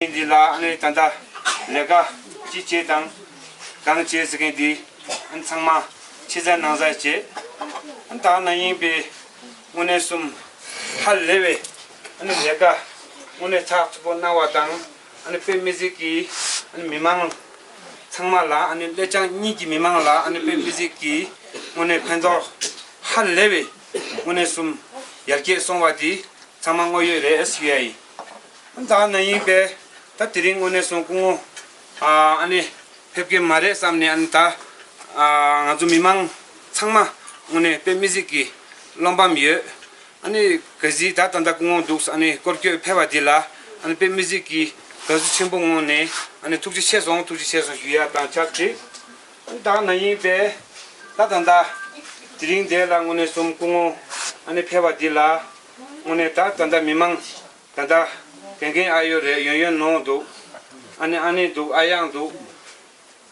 ཐེངས་འདི་ལ་ཨ་ནེ་ད་ལྟ་ལས་ཀ་ཅི་བྱེད་དང་གང་བྱེད་ཟེར་མཁན་དེ་ཚང་མ་ཕྱི་གསལ་ནང་གསལ་བྱེད། དག་ན་ཡིན་པའི་དངོས་གནས་གསུམ་ཧ་ལས་པའི་ལས་ཀ་དངོས་གནས་ཚགས་ཚུད་པོ་གནང་བ་དང་དཔེ་མི་གཟིགས་ཀྱི་མི་མང་ཚང་མ་ལ་སླད་ཅང་གཉིས་ཀྱི་མི་མང་ལ་དཔེ་མི་གཟིགས་ཀྱི་དངོས་གནས་ཕན་ཐོགས་ཧ་ལས་པའི་དངོས་གནས་གསུམ་ཡར་རྒྱས་སོང་བ་དེ་ཚང་མ་དངོས་ཡོད་རེད། ད་ན་ཡིན་པས་ད་དེ་རིང་དངོས་གནས་སོང་སྐུ་ངོ། ཨ་ནེ། ཕེབས་ཀྱི་མ་རེད་བསམ་ནས་ཨ་ནེ་ད། ང་ཚོ་མི་མང་ཚང་མ་དངོས་གནས་དཔེ་མི་གཟིགས་ཀྱི་བློ་འབམ་ཡོད། ཨ་ནེ། གལ་སྲིད་ད་ད་ལྟ་སྐུ་ངོ་འདུག་ཨ་ནེ་སྐོར་བསྐྱོད་ཕེབས་པ་འདི་ལ་ཨ་ནེ་དཔེ་མི་གཟིགས་ཀྱི་དགའ་བསུ་ཆེན་པོ་དངོས་ནས་ཨ་ནེ་ཐུགས་རྗེ་ཆེ་སོང་ཐུགས་རྗེ་ཆེ་སོང་ཞུ་ཡ་དང་བཅར་འདྲི། ད་ན་ཡིན་པས་ད་ད་ད། དེ་རིང་འདས་ལ་དངོས་གནས་སོམ་སྐུ་ངོ་ཨ་ནེ་ཕེབས་པ་འདི་ལ། དངོས་གནས་ད་ད་ལྟ་མི་མང་ད་ད་དེ་འགན་ཨ་ཡོད་རེད་ཡོན་ཡོན་ནོ་འདུག་ཨ་ནེ་ཨ་ནེ་འདུག་ཨ་ཡག་འདུག་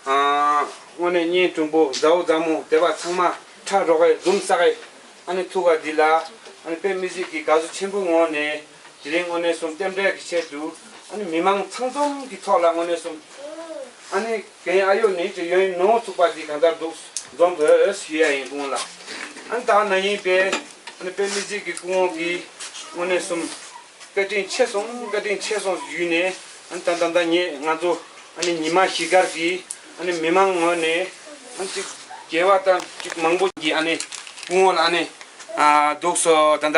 དངོས་གནས་བརྙན་ཐུང་པོ་མཛའ་བོ་མཛའ་མོ་དེ་བ་ཚང་མ་ཁྲ་རོག་ཨེ་འཛུམ་ས་ཨེ་ཨ་ནེ་ཐུགས་ཁ་འདི་ལ་ཨ་ནེ་པེ་མི་གཟིགས་ཀྱི་དགའ་བསུ་ཆེན་པོའི་ངོགས་ནས་དེ་རིང་དངོས་གནས་གསུམ་རྟེན་འབྲེལ་གྱི་ཆེད་དུ་ཨ་ནེ་མི་མང་ཚང་འཛོམས་ཀྱི་ཐོག་ལ་དངོས་གནས་གསུམ་ཨ་ནེ། གན་ཨ་ཡོ་ནི་ཀྲི་ཡོན་ནོ་བཙུགས་པ་འདི་གང་ལྟར་འདུག་རྫོང་བོད་ཨོས་ཞུ་ཡ་ཡིན་ཀུང་ལ་ཨན་ད་ན་ཡིན་པས་ཨན་པེ་ལི་ཅིག་གི་ཀུའོ་གི་དངོས་གནས་གསུམ་བཀའ་དྲིན་ཆེ་སོང་བཀའ་དྲིན་ཆེ་སོང་ཞུས་ནས་ཨན་ད་ད་ད་ངེད་ང་ཚོ་ཨན་ཉི་མ་ཞི་དཀར་གི་ཨན་མི་མང་ངོས་ནས་ཨན་ཅིག་རྒྱལ་བ་ད་ཅིག་མང་པོ་གི་ཨན་ཀུའོ་ལ་ཨན་ཨ་འདུག་སོ་ད་ད་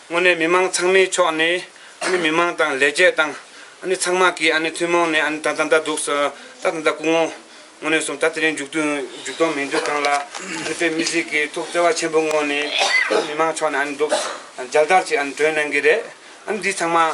དངོས་གནས་མི་མང་ཚང་མའི་ཕྱོགས་ནས་མི་མང་དང་ལས་བྱེད་དང་ཚང་མ་གིས་ཐུན་མོང་ནས་ད་ད་ད་འདུག་ད་ད་ད་སྐུ་ངོ། དངོས་གནས་སོང་ད་དེ་རིང་མཇུག་བསྡོམས་མིན་འདུག་གང་ལ་བོད་མི་སྲིད་ཀྱི་ཐུགས་བརྩེ་བ་ཆེན་པོ་ངོ་ནས་མི་མང་ཕྱོགས་ནས་འདུག་འཇལ་དར་ཅིག་གྲོས་གནང་གི་རེད་འདི་ཚང་མ།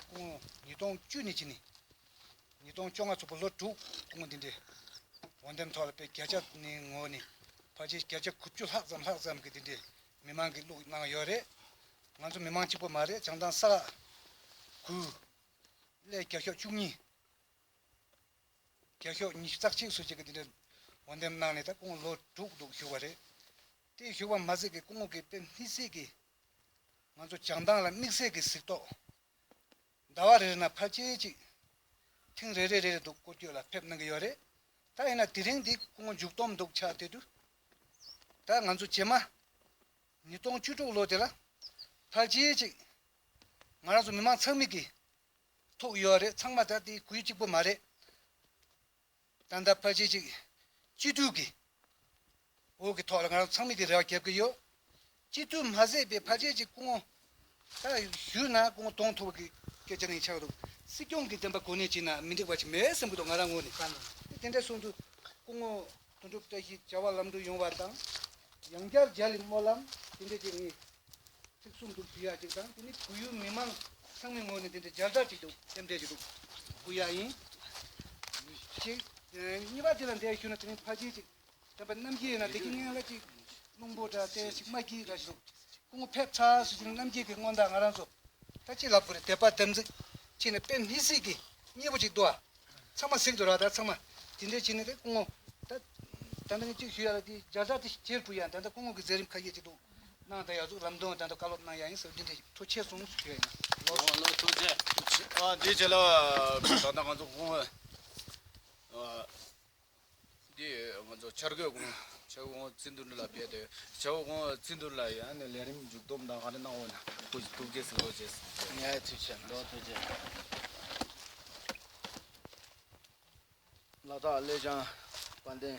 སྐུ་ངོ་ཉིས་སྟོང་བཅུ་ནས་བྱིན་ནས་ཉིས་སྟོང་བཅོ་ལྔ་ཚོགས་པ་ལོ་དྲུག་སྐུ་ངོ་འདི་འདྲའི་འོ་འདེམས་ཐོག་ལ་དཔེ་བརྒྱ་ཆ་ནི་ངོ་ནི་ཕར་ཆེར་བརྒྱ་ཆ་གུ་བཅུ་ལྷག་ཙམ་ལྷག་ཙམ་གྱི་འདི་འདྲའི་མི་མང་གི་བླུག་གནང་གི་ཡོད་རེད། ང་ཚོ་མི་མང་གཅིག་པོ་མ་རེད་བྱང་ཐང་ས་ལ་གུ་ལས་བརྒྱ་ཤོག་བཅུ་གཉིས་བརྒྱ་ཤོག་ཉི་ཤུ་རྩག་གཅིག་སུ་གཅིག་གི་འདི་འདྲའི་འོ་འདེམས་གནང་ནས་ད་སྐུ་ངོ་ལོ་དྲུག་འདུག་བཞུགས་པ་རེད། དེ་བཞུགས་པ་མ་ཟད་ཀྱི་སྐུ་ངོ་གི་དཔེ་སྣེ་སྲིད་ཀྱི་ང་ཚོ་བྱང་མདངས་ལ་དམིགས་བསལ་གྱི་གཟིགས་རྟོག། ཟླ་བ་རེ་རེ་ན་ཕར་ཆེར་གཅིག། ཐེངས་རེ་རེ་རེ་རེ་འདུག་སྐོར་སྐྱོད་ལ་ཕེབས་གནང་གི་ཡོད་རེད། ད་ཡིན་ན་དེ་རིང་འདི་སྐུ་ངོ་མཇུག་སྡོམ་འདུག་ཆགས་དེ་དུས། ད་ང་ཚོ་རྗེས་མ། ཉིས་སྟོང་བཅུ་དྲུག་ལོ་དེ་ལ། ཕར་ཆེར་གཅིག། ང་རང་ཚོ་མི་མང་ཚང་མིག་གིས། ཐུག་ཡོད་རེད་ཚང་མ་ད་དེ་གུས་གཅིག་པོ་མ་རེད། ཏག་ཏག་ཕར་ཆེར་ཅིག་སྤྱི་འཐུས་ཀྱི་འོག་གི་ཐོག་ལ་ང་རང་ཚང་མས་དེ་རེ་བ་རྒྱབ་ཀྱི་ཡོད། སྤྱི་འཐུས་མ་བཟོས་པའི་ཕར་ཆེར་ཅིག་སྐུ་ངོ་ད་བཞུགས་ན་སྐུ་ངོ་གདོང་ཐུག་པ་གི་སྐད་ཆ་ནི་ཆགས་འདུག་སྲིད་སྐྱོང་གི་བདེན་པ་གོ་གནས་བྱས་ན་མི་འགྲིག་པ་ཞིག་མེད་སེམས་ཀྱི་ཐོག་ང་རང་ངོས་ནས་བསམ་ཡོད། དེ་དེ་འདྲ་གསུངས་དུས་སྐུ་ངོ་དོན་གྲུབ་བཀྲ་ཤིས་བྱ་བ་ལམ་འགྲོ་ཡོང་བ་དང། ཡང་བསྐྱར་རྒྱ་ལི་སྨོན་ལམ་དེ་འདྲ་ཅིག་ངས་ཚིག་གསུམ་འདུག་བུ་ཡ་གཅིག་དང་དེ་ནི་བོད་ཡུལ་མི་མང་ཚང་མའི་ངོས་ནས་དེ་འདྲའི་སྦྱར་བདག་ཅིག་འདུག་སེམས་ཁྲལ་ཅིག་འདུག་བུ་ཡ་ཡིན། ཞེས། གཉིས་པ་དེ་ལ་འདས་ཞུས་ན་དེ་རིང་ཕ་རྗེས་ཅིག་དྲན་པ་རྣམ་རྒྱལ་ཡིན་ན་དེ་ཁྱི་ངན་ལ་ཅིག་རླུང་བུ་འདྲ་སྟེ་ཞིག་མ་གྱིས་འདྲ་ཞིག་འདུག་སྐུ་ངོ་ཕེབས་ཚར་སུ་ཞིག་ནི་རྣམ་རྒྱལ་གྱི་སྔོན་བདག་ང་རང་ཚོ་ད་ཅི་ལབ་དགོས་རེད་དད་པ་དམ་ཚིག་ཕྱིན་ནས་དཔེ་མི་སྲིད་ཀི་གཉིས་པོ་ཅིག་འདུག་ཨ། ཚང་མ་གཟིགས་འདུག་ར་ད་ཚང་མ་དེ་འདྲའི་བྱས་ནས་དེ་སྐུ་ངོ། ད། ད་ནི་ཅིག་ཞུས་ཡ་ལ་དེའི་སྦྱར་བདག་དེ་ཁྱེར་བུ་ཡ་ད་ད་སྐུ་ངོ་གི་མཛད་རིམ་ཁ་ཤས་ཅིག་འདུག། གནང་དང་ཡར་འཛུགས་ལམ་སྟོན་དང་དང་བཀའ་སློབ་གནང་ཡག་ཡིན་ཟེར་བ་འདི་འདྲའི་ཐུགས་ཆེ་གསུངས་ཞུ་ཡག་ཡིན། ལོ་ལོ་ཐུགས་ཆེ། འདི་བྱས་ལ་ད་ལྟ་ང་ཚོ་ཁོང་འདི་ང་ཚོ་འཆར་འགོད་ཁོང་འཆར་འགོད་ཁོང་རྩིས་འདུར་འདི་ལ་བས་ཏེ་འཆར་འགོད་ཁོང་རྩིས་འདུར་ལ་ཡང་ནས་ལས་རིམ་མཇུག་སྡོམ་དང་ག་རེ་གནང་འོས་ན་ཁུ་བྱུག་ཐུགས་རྗེ་གཟིགས་ལོ་བྱས་ཟེར། ངའི་ཐུགས་ཆེ་ལོ་ཐུགས་ཆེ། ལ་དྭགས་ཀླད་ཆང་དཔལ་ལྡན།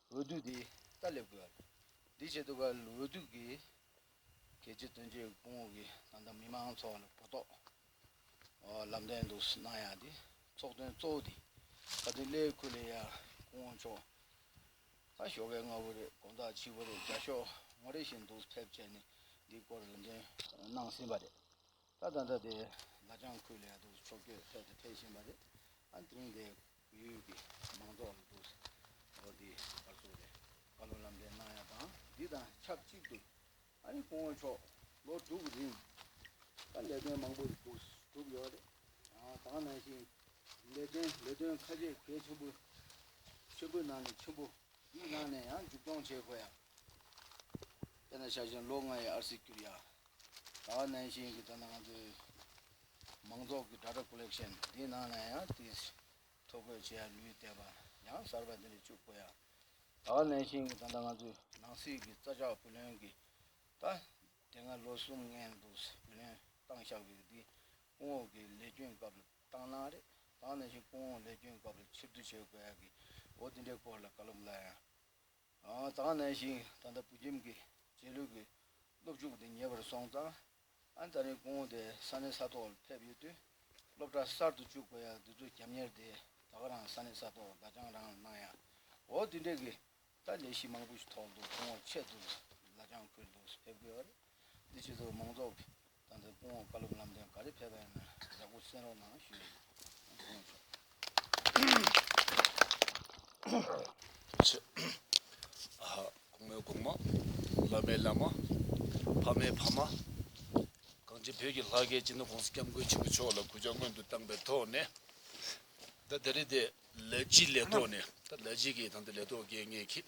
འོས་བསྡུ་དེ་ལྟར་སླེབས་དགོས་པ་རེད། དེའི་ཆེད་དུ་འོས་བསྡུ་གི་གལ་ཆེ་དོན་ཆེ་སྐུ་ངོ་གིས་ད་ལྟ་མི་མང་ཚོགས་ལ་གོ་རྟོགས་ལམ་སྟོན་དུ་གནང་ཡག་དེ་ཚོགས་དོན་གཙོ་བོ་དེ་ད་དུས་སླད་ཁུ་ལེ་ཡ་སྐུ་ངོ་མཆོག་ལ་ཞོགས་པའི་སྔ་བོ་རེད་དགོང་དག་ཕྱི་བོ་རེད་རྒྱ་ཤོག་ངོ་རེ་བཞིན་འདུག་ཐེབས་ཆད་ནི་འདིའི་སྐོར་ལམ་སྟོན་གནང་ཟིན་པ་རེད། ད་ད་ལྟ་དེ་ལ་ལྗང་ཁུ་ལས་དུག་འཚོ་སྐྱོད་ཐད་དུ་འཕེལ་བཞིན་པ་རེད། ཨ་ཐིང་སྡེ་ཡུལ་གྱི་མང་ཚོགས་ལ་དུག་སེལ་དེ་བར་སོ་རེ་བར་ལོ་ལམ་འདྲེན་གནང་ཡ་དང་འདི་དང་ཆབས་ཅིག་ཏུ་ཨ་རི་གོང་འོག་ཕྱོགས་ལོ་དྲུག་རིང་ད་ལས་དོན་མང་པོ་ཞིག་བསྒྲུབས་ཡོད་རེད། དང་ནང་བཞིན་ལས་དོན་ལས་དོན་ཁ་ཆེ་གལ་ཆེན་པོ་ཆེན་པོའི་ནང་ནས་ཆེན་པོ་གཉིས་ནང་ནས་ཡང་མཇུག་སྐྱོང་བྱེད་དགོས་ཡ། དེ་ན་ཤར་བཞིན་ལོ་ལྔ་ཡི་ཨར་སིག་བསྐྱུར་ཡ། ད་བར་ནན་ཞིང་གིས་ད་ནང་ང་ཚོའི་མང་ཚོགས་ཀྱི་སྒྲ་སྒྲོག Collection འདིའི་ནང་ནས་ཡང་དེ་ཐོ་འགོད་བྱེད་ཡ་ལུས་བསྡད་པ་ཡང་གསར་པ་འདི་ལས་བཅུག་དགོས་ཡ། ད་བར་ནན་ཞིང་གིས་ད་ལྟ་ང་ཚོའི་ནང་སྲིད་ཀྱི་རྩ་ཆག་བུ་ལོན་གྱི་ད་དེ་སྔ་ལོ་གསུམ་ལྔའི་འདུག་ས་བུ་ལོན་བཏང་བཞག་པའི་འདི་སྐུ་ངོགས་ཀྱི་ལས་སྐྱོན་སྐབས་ལ་བཏང་གནང་རེད་ད་ནན་ཞིང་སྐུ་ངོགས་ལས་སྐྱོན་སྐབས་ལ་ཕྱིར་བསྡུ་བྱེད་དགོས་ཡ་གི་འོ་འདི་འདྲའི་སྐོར་ལ་བཀའ་སློབ་སླ་ཡ། དྭངས་གནས་ཤིང་ད་ལྟ་བོད་ཁྱིམ་གྱི་རྗེས་ལུས་ཀྱི་སློབ་ཕྲུག་དེ་ཉེ་བར་སོང་ཙང་ཨན་ད་རིང་ཀོང་དེ་ས་གནས་ས་ཐོག་ལ་ཕེབས་ཡོད་དུས་སློབ་གྲྭ་གསར་དུ་བཅུག་པ་ཡ་འདི་ཚོ་རྒྱབ་གཉེར་དེ་ད་ག་རང་ས་གནས་ས་ཐོག་ལ་བདག་སྦྱང་རང་ལ་གནང་ཡ་འོ་དེ་འདྲས་ཀྱི་ད་ལས་གཞི་མང་པོ་ཞིག་ཐོག་འདུག་ཁོང་བ་ཆད་འདུག་ལ་ལྗང་ཁུར་འདུག་ཕེབས་དགོས་ཨ་རེ་འདི་ཆེ་ཚོ་མང་ཚོགས་ཀྱི་དང་འཛིན་སྐུ་ངོ་བཀའ་སློབ་ལམ་སྟོན་ག་རེ་ཕེབས་པ་ཡིན་ན་ཡག་པོ་གསན་རོགས་གནང་ཞུ་ཡི་ཡོད། གོང་མའི་གོང་མ། བླ་མའི་བླ་མ། ཕ་མའི་ཕ་མ། གངས་ཅན་བོད་ཀྱི་ལྷ་སྐལ་སྤྱི་ནོར ྋགོང་ས ྋསྐྱབས་མགོན་ཆེན་པོ་མཆོག་ལ་གུས་ཕྱག་སྔོན་དུ་བཏང་པའི་ཐོག་ནས། ད་དེ་རིང་དེ་ལས་ཀྱི་ལས་ཐོག་ནས་ད་ལས་བྱེད་ཀྱི་དང་དེ་ལས་ཐོག་དགེ་བསྙེན་གྱིས།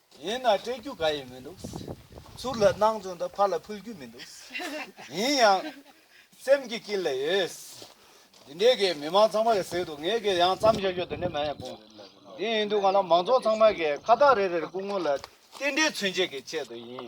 ཡིན་ན་སྤྲད་རྒྱུ་ག་ཡི་མི་འདུག། ཚུར་ལ་སྣང་ཚུལ་འདི་ཕར་ལ་ཕུལ་རྒྱུ་མི་འདུག། ཡིན་ཡང། སེམས་ཀྱི་དཀྱིལ་ལ་ཡོད། འདི་འདྲའི་གི་མི་མང་ཚང་མ་གི་ཟེར་དུ་ངས་གི་ཡང་བརྩམས་བཞག་ཞོར་དུ་ནི་མ་ཡིན་སྤུངས། དེ་ཡིན་དུས་ང་ལ་མང་ཚོགས་ཚང་མ་གི་ཁ་བཏགས་རེ་རེར་སྐུ་ངོ་ལ་རྟེན་འབྲེལ་མཚོན་བྱེད་ཀྱི་ཆེད་དུ་ཡིན།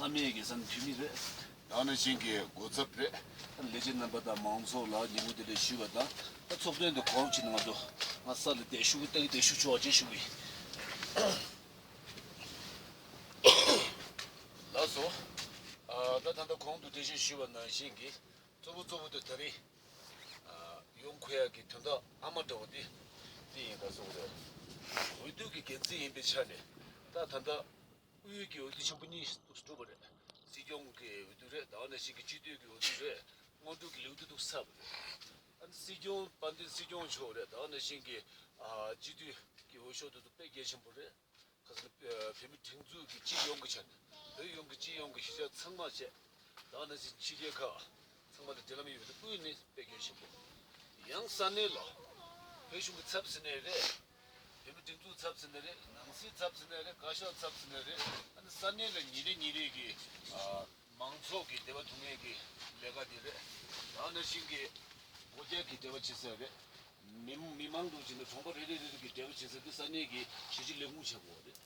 བསམ་ཡས་ཀྱི་བསམ་འཕེལ་མི་རེད། ཡང་ན་ཆིང་གི་འགོ་ཚབ་རེད། ལས་བྱེད་རྣམ་པ་དང་མང་ཚོགས་ལ་ཉིན་མོ་དེ་འདྲ་ཞུས་པ་དང་ཚོགས་ཐུན་དེ་གོ་རོབ་ཅིག་གནང་འགྲོ། ང་གསར་ལ་བསྡད་ཤུགས་བསྡད་ཀྱི་བསྡད་ཤུགས་ཆོག་ཅེས་ཞུ་གི་ལགས་སོ། ད་ད་ལྟ་གོང་དུ་དེ་བཞིན་ཞུས་པ་ནང་བཞིན་གྱི་གཙོ་བོ་གཙོ་བོ་དེ་ད་རིང་ཡོང་ཁོ་ཡག་གི་དོན་དག་ཨ་མ་འདྲ་བོ་དེ་དེ་ཡིན་ག་སོང་རེད། འོས་བསྡུ་གི་འགན་འཛིན་ཡིན་པའི་ཆ་ནས་ད་ད་ལྟ། དབུས་ཡུལ་གྱི་འོས་བསྡུ་ཆེན་པོ་གཉིས་གྲུབ་པ་རེད། སྲིད་སྐྱོང་གི་འོས་བསྡུ་རེད་དང་ནས་གཞིས་ཀྱི་སྤྱི་འཐུས་ཀྱི་འོས་བསྡུ་རེད། སྔོན་འགྲོ་གི་ལེའུ་བསྡུ་ཐུབ་ས་མེད། སྲིད་སྐྱོང་དཔལ་ལྡན་སྲིད་སྐྱོང་མཆོག་རེད་དང་ནས་གཞིས་ཀྱི་སྤྱི་འཐུས་ཀྱི་འོས་ཤོག་བསྡུ་ཐུབ་པས་གལ་ཆེན་པོ་རེད། ཁ་སང་བོད་མི་སྒྲིག་འཛུགས་ཀྱི་སྤྱི་ཡོངས་ཀྱི་ཆ་ནས་བོད་ཡོངས་ཀྱི་སྤྱི་ཡོངས་ཀྱི་ཤེས་བྱ་ཚང་མ་བྱས། དང་ནས་གཞིས་ཕྱི་རྒྱལ་ཁག་ཚང་མ་ལ་འབྲེལ་ལམ་ཡོད་པ་དེ་ཀུན་ནས་དཔེ་གལ་ཆེན་པོ། ཡང་ས་གནས་ལ་བོད་གཞུང་གི་ཚབ་ཟེར་ནས་རེད། བོད་མི་སྒྲིག་འཛུགས་ཚབ་ཟེར་ནས་རེད། ནང་སྲིད་ཚབ་ཟེར་ནས་རེད། བཀའ་ཤག་ཚབ་ཟེར་ནས་རེད། ཨ་ནི་ས་གནས་ལ་ཉིན་རེ་ཉིན་རེ་གི། མང་ཚོགས་ཀྱི་བདེ་བ་སྡུག་བསྔལ་གྱི་ལས་ཀ་དེ་རེད། རང་ནང་བཞིན་གྱི། སྒོ་རྒྱག་གི་བདེ་བ་བྱེད་སའི་རེད། མི་མང་འདུག་ཅེས་ནས་གྲོང་པ་རེ་རེ་རེ་རེ་གི་བདེ་བ་བྱེད་ས་དེ་ས་གནས་ཀྱི་གཞིས་བྱེས་ལས་ཁུངས་བྱ་དགོས་བ་རེད།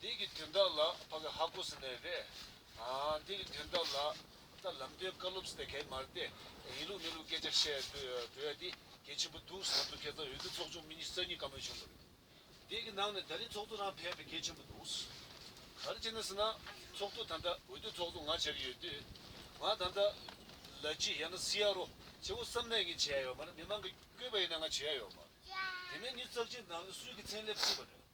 འདི་གི་དོན་དག་ལ་བྷ་ག་ཧ་གོ་སི་ནའི་རེ། འདི་གི་དོན་དག་ལ་ད་ལམ་དོན་བཀའ་སློབ་སི་ཏའི་གའི་མར་ཏེ། ཡིན་ལུགས་མིན་ལུགས་སྐད་ཆ་བཤད་སྡོད་ཡ་དེ་གལ་ཆེན་པོ་འདུག་ཟེར་དུ་ཁྱེད་ཚང་འོས་བསྡུ་ཚོགས་ཆུང་མི་ཉིས་རྩ་གཉིས་བཀའ་མོལ་བྱུང་འདུག་རེད། དེ་གི་ནང་ནས་ད་རིང་ཚོགས་གཙོ་རང་ཕེབས་པའི་གལ་ཆེན་པོ་འདུག། ག་རེ་བྱེད་ན་ཟེར་ན་ཚོགས་གཙོ་ད་ལྟ་འོས་བསྡུ་ཚོགས་གཙོ་ང་བྱ་གི་ཡོད་དུས། ང་ད་ལྟ་ལ་ཅི་ཡང་ན་སི་ཡ་རོ་ཆེ་བོ་བསམ་ནས་གི་བྱེད་ཡ་ཡོད་མ་རེད་མི་མང་གི་བསྐོས་པ་ཡིན་ན་ང་བྱེད་ཡ་ཡོད་མ་རེད་དེ་ནས་ཉིས་རྩ་གཅིག་ནང་ནས་སུས་གི་མཚན་སླེབས་སྲིད་པ་རེད།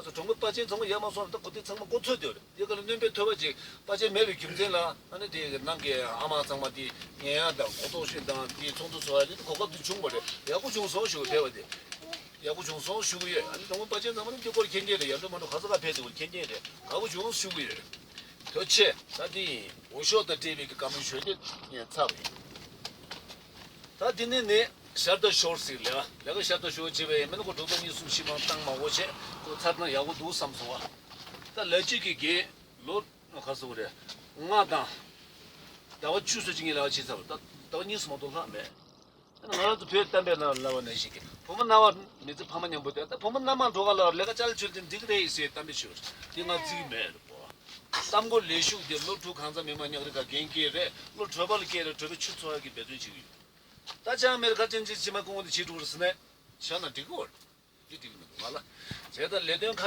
བཀའ་ཟུར་གྲོང་པོའི་དཔའ་ཆེན་ཚང་མ་ཡར་མར་སོང་རེ་ད་གོ་དེ་ཚང་མ་ཀོ་ཚོད་དེ་རེད་དེ་ག་ལ་གནོན་པའི་ཐོད་པ་ཅིག་དཔའ་ཆེན་མེད་པའི་རྒྱུ་མཚན་ལ་ཨ་ནི་དེ་ནང་གི་ཨ་མ་ཚང་མ་དེ་ངན་ཡང་དང་གོ་ལྟོག་ཤིན་དང་དེ་ཚོགས་འདུ་ཚོགས་ཡ་ལི་དེ་གོ་སྐབས་དེ་བྱུང་བ་རེད་ཡག་པོ་བྱུང་སོང་ཞུ་དེ་བ་དེ་ཡག་པོ་བྱུང་སོང་ཞུ་གི་ཡོད་ཨ་ནི་གྲོང་པོའི་དཔའ་ཆེན་ཚང་མ་ནི་དེ་སྐོར་མཁྱེན་མཁན་རེད་ཡར་འགྲོ་མར་འགྲོ་ག་ས་ག་ཕེབས་དེ་བ་མཁྱེན་མཁན་རེད་དགའ་པོ་བྱུང་ཞུ་གི་ཡོད་དོ་ཆེ། ད་དེ་ཡིན་འོ་ཤོག་དང་སྤྲེལ་བའི་གི་དགའ་མོས་ཞོལ་དེ་ཡིན་ཚ་བ་ཡིན། ད་དེ་ནས་ནི་ཤར་དུ་ཤོར་ཟིག་ལ། ལས་ཀ་ཤར་དུ་ཤོར་བྱེད་པའི་ཡས་མས་ནི་གོ་དྲུག་དང་གཉིས་གསུམ་བཞི་མང་གཏང་མང་བོ་བྱས་ཁོ་མཚར་ན་ཡག་པོ་འདུག་བསམ་སོང་བ། ད་ལས་གཅིག་གི་དགེ། ལོ། ཁ་སོ་བོ་རེ། ལྔ་དང། ཟླ་བ་བཅུ་སོ་གཅིག་གཉིས་ལ་ཕྱི་ཚར་བ། ད་ཟླ་བ་གཉིས་སུ་མང་དུ་ལྷག་མེད། ད་ནི་ང་རང་ཚོ་བོད་གཏམ་པའི་ནང་ལ་བ་ནས་ཞིག་གིས་བུ་མོ་རྣ་བ་མི་ཚེ་ཕ་མ་མཉམ་པོ་དེ་ད་བུ་མོ་སྣ་མང་འགྲོ་ག་ལ་བར་ལས་ཀ་ཅལ་ཆོལ་དེ་འགྲིག་རེད་ཟེར་གཏམ་པའི་ཆོས་དེ་ང་རྩིས་མེད། གསར་འགོད་ལས་ཞུགས་དེ་བློ་གྲོས་གང་ཚ་མི་མ་ཉག་རི་ག་གན་སྐྱེས་རེད་བློ་གྲོས་པ་ལ་སྐྱེས་རེད་གྲོས་པའི་ཆུ་ཚོ་ཨ་གི་འབད་བརྩོན་བྱེད་གི་ཡོད་ད་ཅང་མེ་རི་ཁ་ཅན་ཅིག་ཅི་མ་ཀུང་བོ་དེ་བྱེད་འགྲོ་གི་རེད་སེ་ན་བྱས་ན་འགྲིག་གི་འོ་རེད་འགྲིག་གི་མི་འདུག་ང་ལ་བྱས་ད་ལས་དོན་ཁ